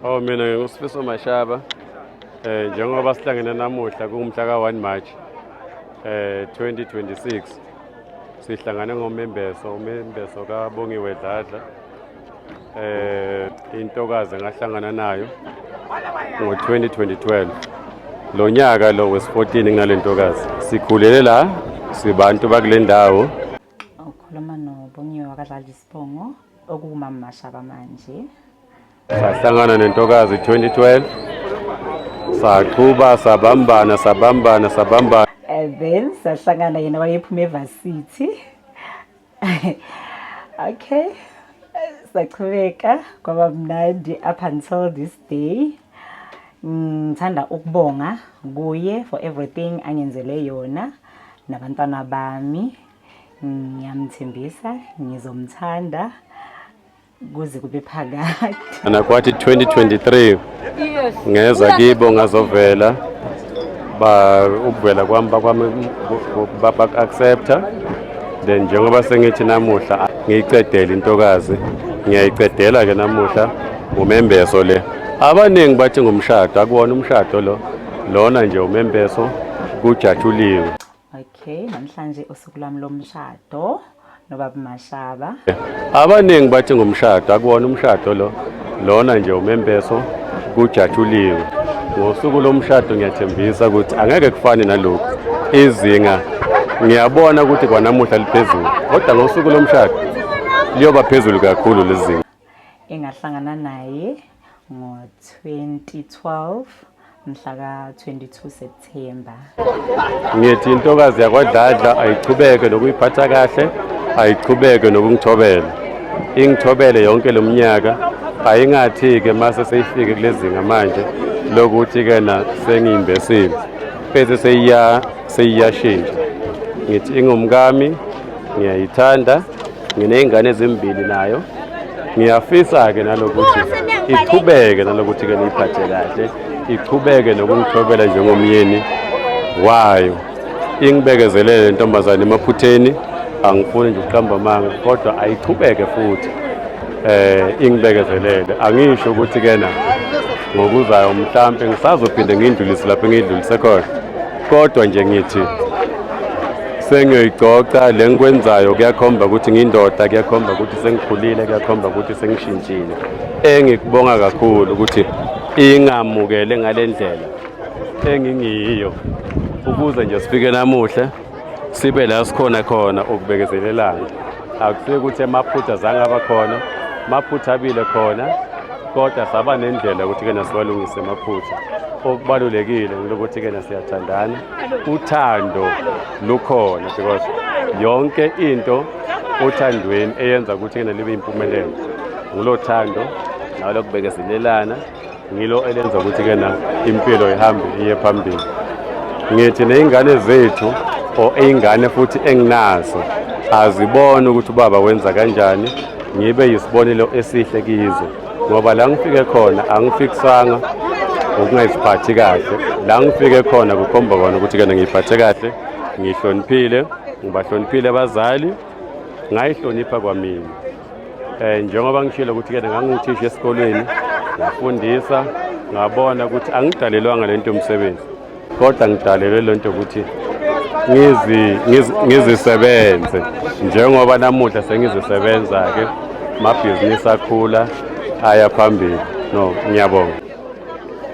Oh mina ngingusifiso Mashaba eh njengoba sihlangene namuhla kumhla ka 1 March eh 2026 sihlangane ngomembeso umembeso ka Bongiwe Dladla eh intokazi ngahlangana nayo ngo 2012 lo nyaka lo wes 14 nginalentokazi sikhulele la sibantu bakulendawo ukhuluma no Bongiwe wakadlala isibongo okuwumama Mashaba manje. Sahlangana nentokazi 2012 saqhuba sabambana sabambana sabambana and then sahlangana yena wayephuma evarsity okay saqhubeka kwaba mnandi up until this day ngithanda ukubonga kuye for everything angenzele yona nabantwana bami ngiyamthembisa ngizomthanda kuze kube phakade anakwathi 2023 ngeza kibo ngazovela ba ukuvela kwami bakwami bak-accepta then njengoba sengithi namuhla ngiyicedele intokazi ngiyayiqedela-ke namuhla ngumembeso le abaningi bathi ngumshado akuwona umshado lo lona nje umembeso kujatshuliwe Okay, namhlanje usuku lwami lomshado nobaba Mashaba. Abaningi bathi ngumshado, akuwona umshado lo. Lona nje umembeso kujatshuliwe. Ngosuku lomshado ngiyathembisa ukuthi angeke kufane nalokhu. Izinga ngiyabona ukuthi kwanamuhla liphezulu, kodwa ngosuku lomshado liyoba phezulu kakhulu lezinga. engahlangana naye ngo-2012 mhla ka-22 September. Ngithi intokazi yakwadladla ayiqhubeke nokuyiphatha kahle ayiqhubeke nokungithobela ingithobele yonke lo mnyaka ayingathi-ke mase seyifike kule zinga manje lokuthi-ke na sengiyimbesile bese seyiyashintsha ngithi ingumkami ngiyayithanda nginey'ngane ezimbili nayo ngiyafisa-ke nalokuthi iqhubeke nalokuthi-ke niyiphathe kahle iqhubeke nokungithobela njengomyeni wayo ingibekezelele le ntombazane emaphutheni angifuni nje ukuqamba amanga kodwa ayiqhubeke futhi eh ingibekezelele angisho ukuthi-ke na ngokuzayo mhlampe ngisazophinde ngiyindlulise lapho engiyidlulise khona Kodwa nje ngithi sengiyoyicoca le ngikwenzayo kuyakhomba ukuthi ngindoda kuyakhomba ukuthi sengikhulile kuyakhomba ukuthi sengishintshile engikubonga kakhulu ukuthi ingamukele ngale ndlela engingiyiyo ukuze nje sifike namuhle sibe la sikhona khona ukubekezelelana Akusike ukuthi amaphutha zange aba khona, amaphutha abile khona kodwa saba nendlela ukuthi kena siwalungise amaphutha. Okubalulekile ukuthi kena siyathandana, uthando lukhona because yonke into othandweni eyenza ukuthi kena libe impumelelo. Ngulo thando nalo kubekezelelana ngilo elenza ukuthi ke na impilo ihambe iye phambili ngithi nezingane zethu or izingane futhi enginazo azibone ukuthi ubaba wenza kanjani ngibe yisibonelo esihle kizo ngoba la ngifike khona angifikisanga ukungayiphathi kahle la ngifike khona kukhomba kona ukuthi kena ngiyiphathe kahle ngihloniphile ngibahloniphile abazali ngayihlonipha kwamina Eh njengoba ngishilo ukuthi ke nganguthisha esikolweni ngafundisa ngabona ukuthi angidalelwanga lento umsebenzi kodwa ngidalelwe lento ukuthi ngizisebenze njengoba namuhla sengizisebenza-ke amabhizinisi akhula aya phambili no ngiyabonga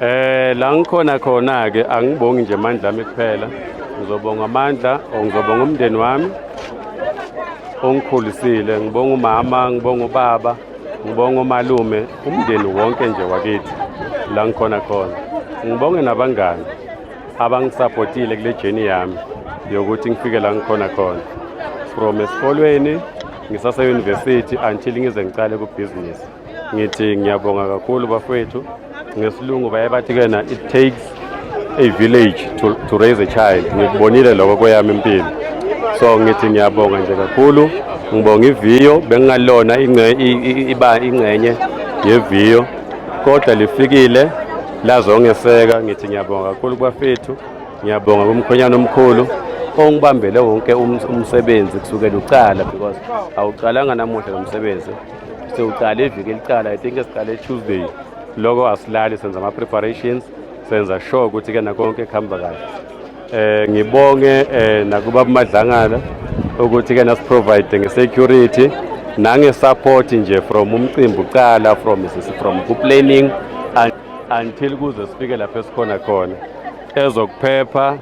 eh la ngikhona khona-ke angibongi nje amandla ami kuphela ngizobonga amandla or ngizobonga umndeni wami ongikhulisile ngibonga umama ngibonga ubaba ngibonga umalume umndeni wonke nje wakithi la ngikhona khona ngibonge nabangani abangisapotile kule jeni yami yokuthi ngifike la ngikhona khona from esikolweni ngisaseyunivesithi until ngize ngicale kubhizinisi ngithi ngiyabonga kakhulu bafowethu ngesilungu baye bathi kena it takes a village to, to raise a child ngikubonile lokho kweyami impilo so ngithi ngiyabonga nje kakhulu ngibonga iviyo bengingalona iba ingxenye yeviyo kodwa lifikile lazongeseka ngithi ngiyabonga kakhulu kubafethu ngiyabonga kumkhonyana omkhulu ongibambele wonke umsebenzi kusukela uqala because awuqalanga namuhla lo msebenzi sewuqale iviki eliqala i think esiqale tuesday loko asilali senza ama-preparations senza sure ukuthi ke nakonke kuhamba kahle eh ngibonge eh nakuba bumadlangala ukuthi ke nasiprovide ngesecurity nangesupport nje from umcimbi uqala from from kuplanning until kuze sifike lapho esikhona khona ezokuphepha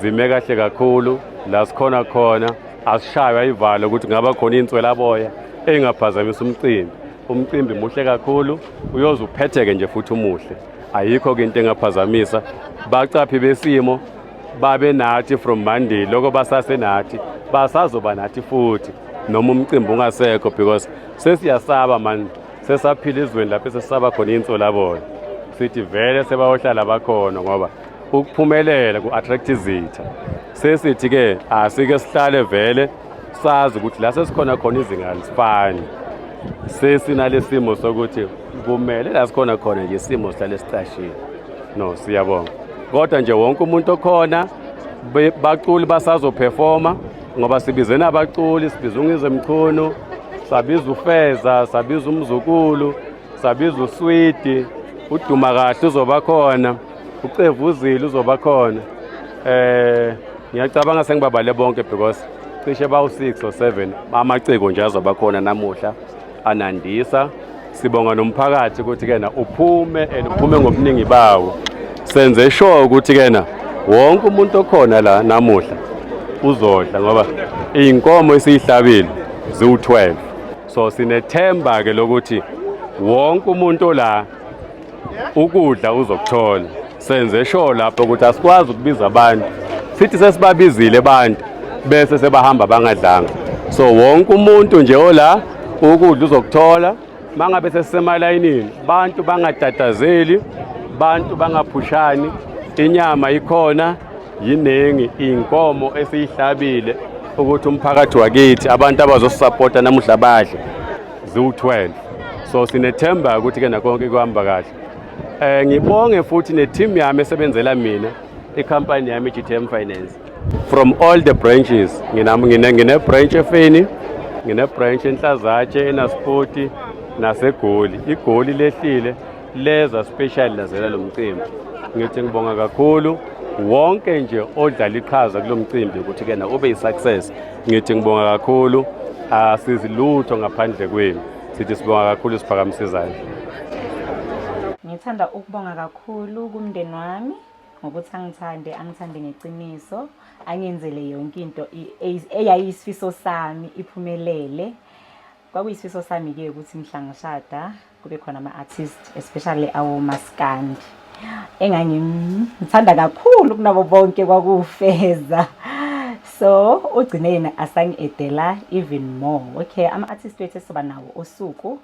zime kahle kakhulu la sikhona khona Asishaywa ivalo ukuthi ngaba khona inswelaboya engaphazamisa umcimbi. Umcimbi muhle kakhulu, uyoze uphetheke nje futhi umuhle. Ayikho ke into engaphazamisa. Bacaphi besimo babe nathi from Monday lokho basase nathi basazoba nathi futhi noma umcimbi ungasekho because sesiyasaba manje sesaphila izweni lapho sesisaba khona insolabona sithi vele sebayohlala bakhona ngoba ukuphumelela ku-attract izitha sesithi-ke asike sihlale vele sazi ukuthi la sesikhona khona izinga alisifani sesinalesimo sokuthi kumele la sikhona khona nje isimo sihlale sicashile no siyabonga kodwa nje wonke umuntu okhona baculi basazophefoma ngoba sibize nabaculi sibiza ungize mchunu sabiza ufeza sabiza umzukulu sabiza uswidi uduma kahle uzoba khona ucevu uzile uzoba khona eh ngiyacabanga sengibabale bonke because cishe bawu 6 or 7 amaciko nje azoba khona namuhla anandisa sibonga nomphakathi ukuthi kena uphume and uphume ngobuningi bawo senze sure ukuthi kena wonke umuntu okhona la namuhla uzodla ngoba izinkomo esiyihlabile ziwu12 so sinethemba ke lokuthi wonke umuntu la ukudla uzokuthola senze sho lapho ukuthi asikwazi ukubiza abantu sithi sesibabizile abantu bese sebahamba bangadlanga so wonke umuntu nje ola ukudla uzokuthola mangabe sesisemalayinini bantu bangatatazeli bantu bangaphushani inyama ikhona yiningi inkomo esiyihlabile ukuthi umphakathi wakithi abantu abazosisapota namuhla badle ziwu-12 so sinethemba ukuthi ke nakonke kuhamba kahle um ngibonge futhi ne-team yami esebenzela mina ikhampani yami i-gtm finance from all the branches ngine-branch efeni ngine-branch enhlazatshe enaspoti nasegoli igoli lehlile leza special lazela lo mcimbi ngithi ngibonga kakhulu wonke nje odlala iqhaza kulo mcimbi ukuthi-ke na ube yi-success Ngithi ngibonga kakhulu asizi lutho ngaphandle kwenu sithi sibonga kakhulu isiphakamise izandla ngithanda ukubonga kakhulu kumndeni wami ngokuthi angithande angithande ngeqiniso angenzele yonke into eyayiyisifiso sami iphumelele Kwakuyisifiso sami-ke ukuthi mhla ngishada kube khona ama-artist especially awomaskandi engangimthanda kakhulu kunabo bonke kwakufeza so ugcine yena asangi-edela even more okay ama-artist wethu esizoba nawo usuku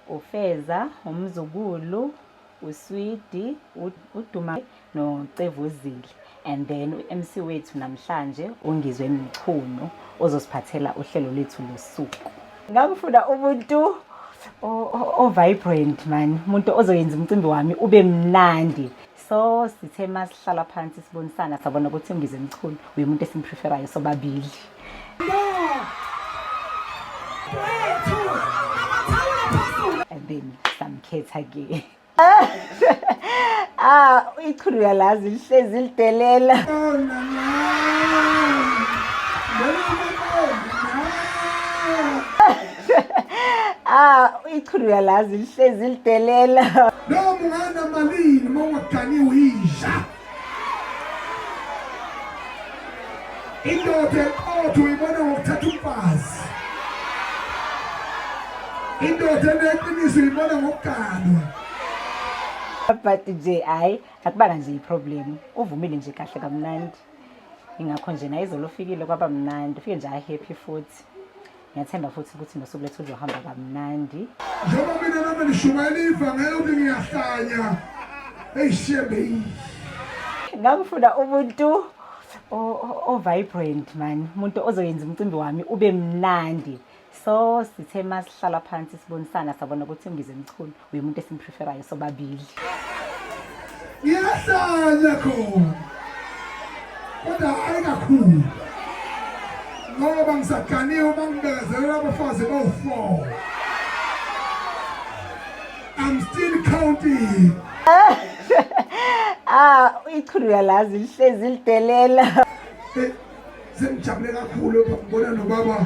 ufeza umzukulu uswidi uduma nocevuzile and then u-mc wethu namhlanje ungizwe mchunu ozosiphathela uhlelo lwethu losuku ngangifuna umuntu o-vibrant mani umuntu ozoyenza umcimbi wami ube mnandi so sithe uma sihlala phansi sibonisana sabona ukuthi ungizwe mchunu uye umuntu esimpreferayo sobabili so, ngisamkhetha ke ah ichulu yalazi lihlezi lidelela ah ichulu yalazi lihlezi lidelela noma unganamali noma ungaganiwe yidla indoda eqotho uyibona ngokuthatha umfazi indoda eneqiniso uyibona ngokuganwa but nje hayi akubanga nje iproblem uvumile nje kahle kamnandi ingakho nje naye izolo ufikile kwaba mnandi ufike nje ahappy futhi ngiyathemba futhi ukuthi nosuku lethu luzohamba kamnandi njengoba mina nami nishumayela ivangela ukuthi ngiyahlanya eyishembe ngangifuna umuntu o-vibrant man umuntu ozoyenza umcimbi wami ube mnandi so sithe uma sihlala phansi sibonisana sabona ukuthi ngize mchunu uye umuntu esimpreferayo sobabili ngiyahlanya khona kodwa hayi kakhulu ngoba ngisaganiwe uma ngibekezelela abafazi bowu-four i'm still counting ah ichulu yalazi lihlezi lidelela sengijabule kakhulu ngibona nobaba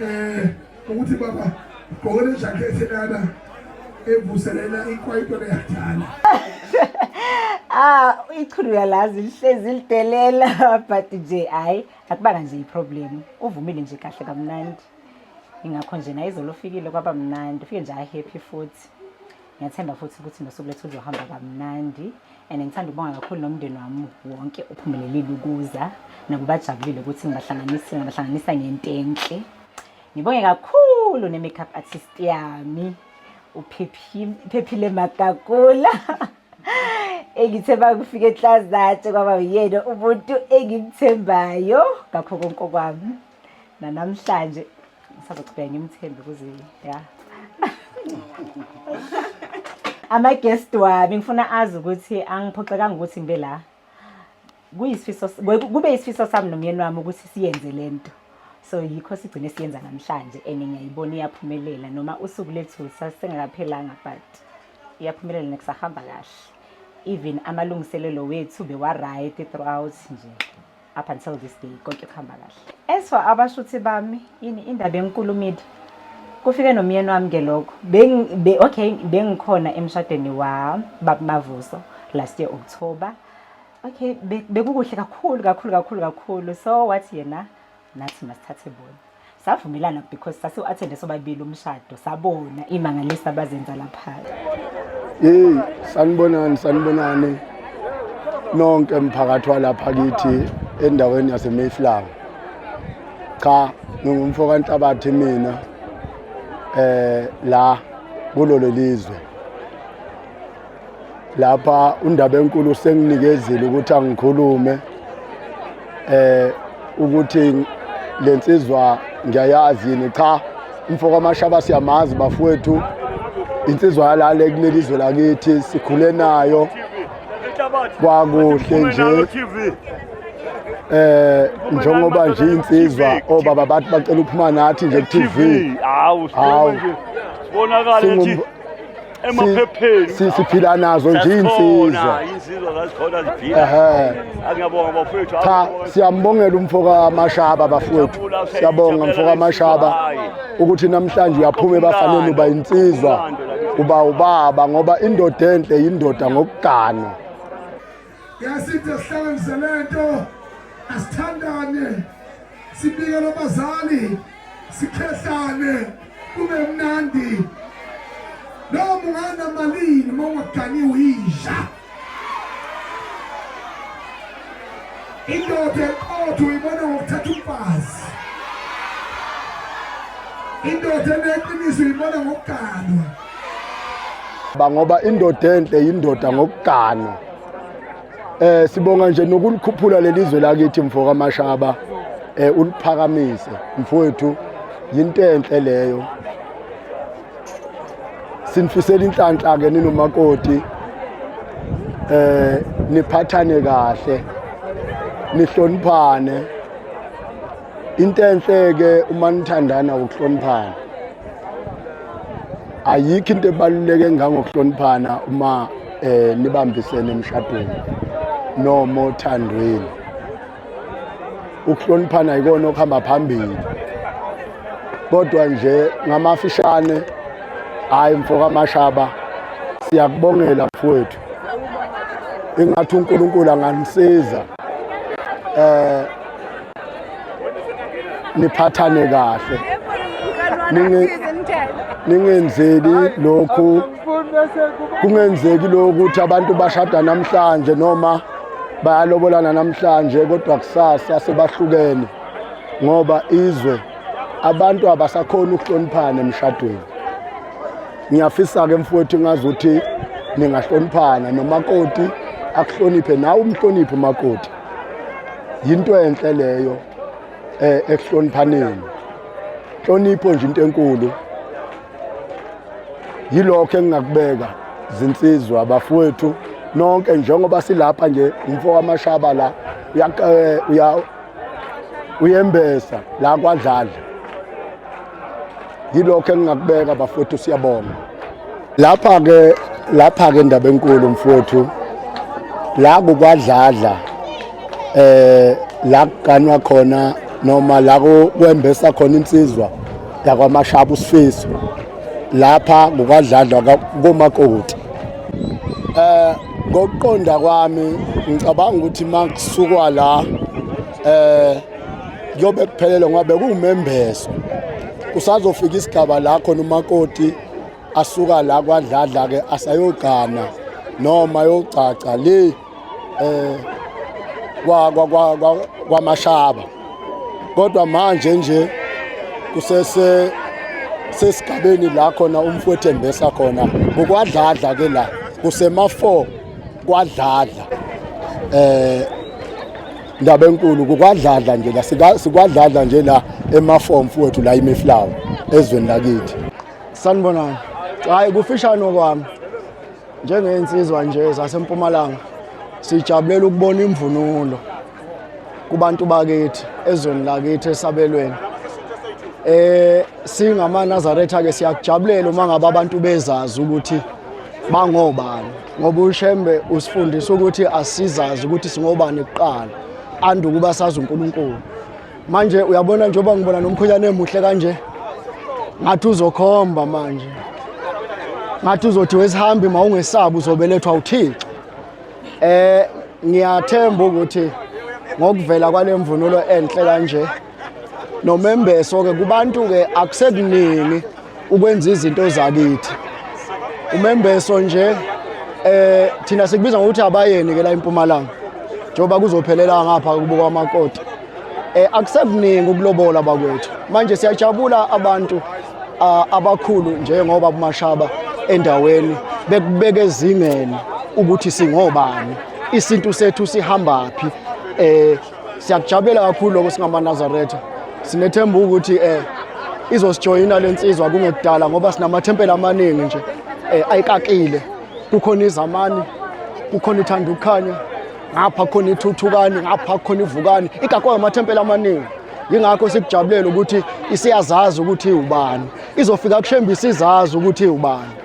eh ukuthi baba gqokele ijakhethi lana evuselela ikwayito leyadala ah ichulu yalazi lihlezi lidelela but nje hayi akubanga nje iproblem uvumile nje kahle kamnandi ingakho nje naye izolo ufikile kwaba mnandi ufike nje ahappy futhi ngiyathemba futhi ukuthi nosuku lethu uzohamba kamnandi and ngithanda ukubonga kakhulu nomndeni wami wonke uphumelelile ukuza nakubajabulile ukuthi ngibahlanganise ngabahlanganisa ngento enhle ngibonge kakhulu ne-makeup artist yami uphephile magagula engithe bakufika eklazatshe kwaba uyena umuntu engimthembayo ngakho konke okwami nanamhlanje ngisazochubeka ngimthembe kuze ya ama-guest wami ngifuna azi ukuthi angiphoxekanga ukuthi ngibe la kuyisifiso kube isifiso sami nomyeni wami ukuthi siyenze le nto so yikho sigcine siyenza namhlanje and ngiyayibona iyaphumelela noma usuku lethu sasengakaphelanga but iyaphumelela nekusahamba kahle even amalungiselelo wethu bewa-right throughout nje up until this day konke kuhamba kahle as for abashuthi bami ini indaba enkulu midi kufike nomyeni wami ke lokho be, okay bengikhona emshadweni wa babumavuso last year october okay bekukuhle be kakhulu kakhulu kakhulu kakhulu so wathi yena nathi masithathe bona savumelana because sasiwu-athende sobabili umshado sabona imangalisa abazenza lapha yeyi sanibonani sanibonani nonke mphakathi walapha kithi endaweni yasemayflower cha ngingumfo kanhlabathi mina eh la kulolo lizwe lapha undaba enkulu senginikezile ukuthi angikhulume eh ukuthi lensizwa ngiyayazi yini cha umfoko amashaba siyamazi bafowethu insizwa yalale kuleli zwe lakithi sikhule nayo kwakuhle nje eh njengoba nje insizwa obaba bathi bacela ukuphuma nathi nje ku TV hawu sibonakala nje emaphepheni siphila nazo nje insizwa insizwa zazikhona ziphila ehe angiyabonga bafowethu cha siyambongela umfoka amashaba bafowethu siyabonga umfoka amashaba ukuthi namhlanje uyaphuma ebafanele uba insizwa uba ubaba ngoba indoda enhle yindoda ngokugana Yasithe sihlanganise lento asithandane sibike lobazali sikhehlane kube mnandi noma ungana malini uma ungaganiwe yisha indoda eqotho uyibona ngokuthatha umfazi indoda eneqiniso uyibona ngokuganwa bangoba indoda enhle yindoda ngokugana eh sibonga nje nokulikhuphula lelizwe lakithi mfo kaMashaba eh uliphakamise mfowethu yinto enhle leyo sinifisela inhlanhla ke ninomakoti eh niphathane kahle nihloniphane into enhle-ke uma nithandana ukuhloniphana ayikho into ebaluleke ngangokuhloniphana uma eh nibambisene emshadweni noma othandweni ukuhloniphana yikona okuhamba phambili kodwa nje ngamafishane hayi mfokamashaba siyakubongela mfowethu ingathi uNkulunkulu anganisiza eh niphathane kahle ningenzeli lokhu kungenzeki lokhu ukuthi abantu bashada namhlanje noma bayalobolana namhlanje kodwa kusasa sebahlukene ngoba izwe abantu abasakhona ukuhloniphana emshadweni ngiyafisa-ke mfowethu ngazi ukuthi ningahloniphana nomakoti akuhloniphe nawe umhloniphe umakoti yinto enhle leyo eh ekuhloniphaneni hlonipho nje into enkulu yilokho engingakubeka zinsizwa abafowethu nonke njengoba silapha nje umfo wamashaba la eh, uya uyembesa la kwadlala yilokho engingakubeka bafowethu siyabonga lapha ke lapha ke indaba enkulu mfowethu la kukwadladla eh la kuganwa khona noma la kwembesa khona insizwa yakwamashaba usifiso lapha kukwadladla komakoti eh ngokuqonda kwami ngicabanga ukuthi makusukwa la eh kuyobe kuphelele ngoba bekuwumembeso kusazofika isigaba la khona umakoti asuka la kwadladla ke asayogana noma yogcaca le eh kwa kwa kwamashaba kodwa manje nje kusese sesigabeni la khona umfowethu embesa khona ngokwadladla ke la kusema 4 kwadladla eh Ndaba enkulu kukwadladla nje la sikwadladla nje la emafomu fuwethu la imiflawa ezweni lakithi. Sanibonani. Hayi kufishane okwami. Njengensizwa nje zasempumalanga sijabulela ukubona imvunulo kubantu bakithi ezweni lakithi esabelweni. Eh singama Nazareth ke siyakujabulela uma ngabe abantu bezazi ukuthi bangobani. ngoba ushembe usifundisa ukuthi asizazi ukuthi singobani kuqala ande ukuba sazi unkulunkulu manje uyabona njengoba ngibona nomkhwenyana emuhle kanje ngathi uzokhomba manje ngathi uzothi wesihambi ma ungesabi uzobelethwa uthixo um ngiyathemba ukuthi ngokuvela kwale mvunulo enhle kanje nomembeso ke kubantu ke akusekuningi ukwenza izinto zakithi umembeso nje eh thina sikubiza ngokuthi abayeni ke la eMpumalanga njengoba kuzophelela ngapha kubuka amakoti eh akusekuningi ukulobola bakwethu manje siyajabula abantu abakhulu njengoba umashaba endaweni bekubeke ezingeni ukuthi singobani isintu sethu sihambaphi eh Siyakujabulela kakhulu lokho singamanazaretha. Sinethemba ukuthi eh izosijoyina lensizwa kungekudala ngoba sinamathempeli amaningi nje eh ayikakile. Kukhona izamani, kukhona ithanda ukukhanya, ngapha khona ithuthukani, ngapha khona ivukani. Igakwa amathempeli amaningi. Yingakho sikujabulela ukuthi isiyazazi ukuthi ubani. Izofika kushembe isizazi ukuthi ubani.